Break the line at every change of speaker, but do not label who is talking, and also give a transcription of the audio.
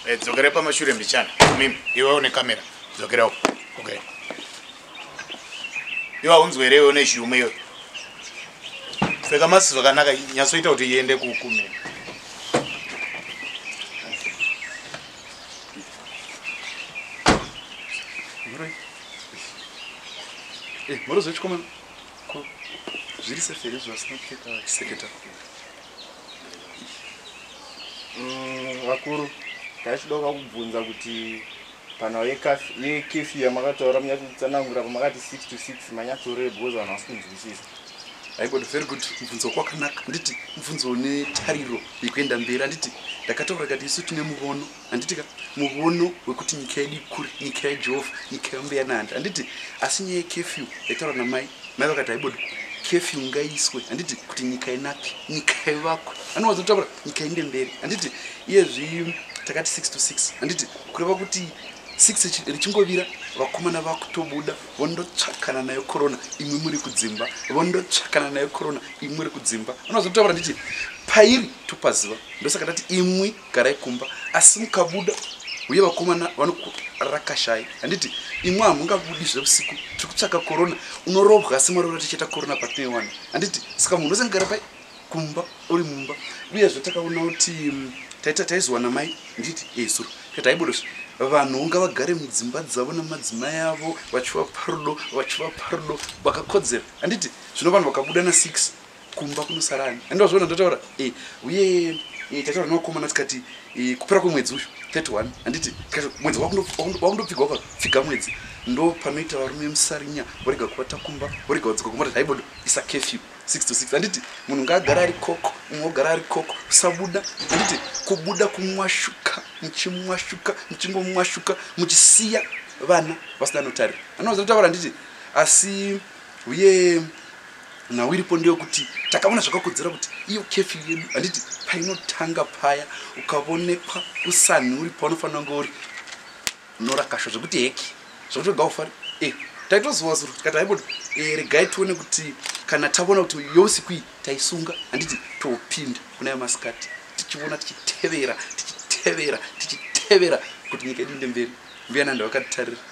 Eh, dzokera pamashure mbichana mimi iwe une kamera dzokera uko okay iwe haunzwe here iwe une chiume iwe pfeka masi zvakanaka nyatsoita kuti iende kukumira
Moro, eh, moro zvechikomana. Ko zviri safe here zvasina kupfeka vachiseketa kure?
Mm, vakuru taichidoka kubvunza kuti panhau yekefi yamakataura munyatotsanangura pamakati 6 to 6 manyatsorei because vanhu vasi kunzwisisa aibodo very
good mubvunzo kwakanaka handiti mubvunzo une tariro yekuenda mberi handiti ndakataura kati isu tine muvono handiti ka muvono wekuti nyika yedu ikure nyika yajehovha nyika yambuya nandi handiti asi nyaya yekefyu yaitaura namai mai vakati haibodi kefyu ngaiswe handiti kuti nyika inake nyika ivakwe anowanza kutaura nyika inde mberi handiti iyezvi takati six to six handiti kureva kuti six richingovira vakomana vakutobuda vondotsvakana nayo korona imwe muri kudzimba vondotsvakana nayo korona imwe ri kudzimba anowanza kutaura handiti pairi topaziva ndosaka tati imwi garai kumba asi mukabuda uye vakomana vanokurakashai handiti imwe hamungabudi zvevusiku tiri kutsvaka korona unorobwa asi mwari uraticheta korona patinoiwana handiti saka munhu wese ngara pai kumba uri mumba uyezve takaona kuti mm, taita taizowana mai nditi esuro eh, taibodosva vanhu unga vagare mudzimba dzavo nemadzimai avo vachivapa rudo vachivapa rudo vakakodzera handiti zvino vanhu vakabuda na six kumba kunosara ani andi wazviona ndotaura eh, uye eh, tataura newakomana tikati eh, kupera kwemwedzi uyu 31 handiti tikati mwedzi wakundopfigwa wakapfiga mwedzi ndo panoita varume musarinya vorega kuvata kumba vorega wadzoka kumba tati haibodo isa kefyu 6 to 6 handiti munhu ngaagara ari koko umwe ogara ari koko usabuda handiti kubuda kumwashuka muchimwashuka muchingomwashuka muchisiya vana vasina notarira anozotaura handiti asi uye nhau iripo ndeyokuti takaona zvakakodzera kuti iyo kefi yedu handiti painotanga paya ukavonekwa usanhi uri paunofanira kunge uri unorakashwa zvekuti heki zvekuti wega ufari e eh, taitozuva zuro tikati haibodi e eh, regai tione kuti kana tavona kuti yousiku iyi taisunga handiti topinda kuna yamasikati tichivona tichitevera tichitevera tichitevera kuti nyika yedu inde mberi mbuya nanda vakatitarira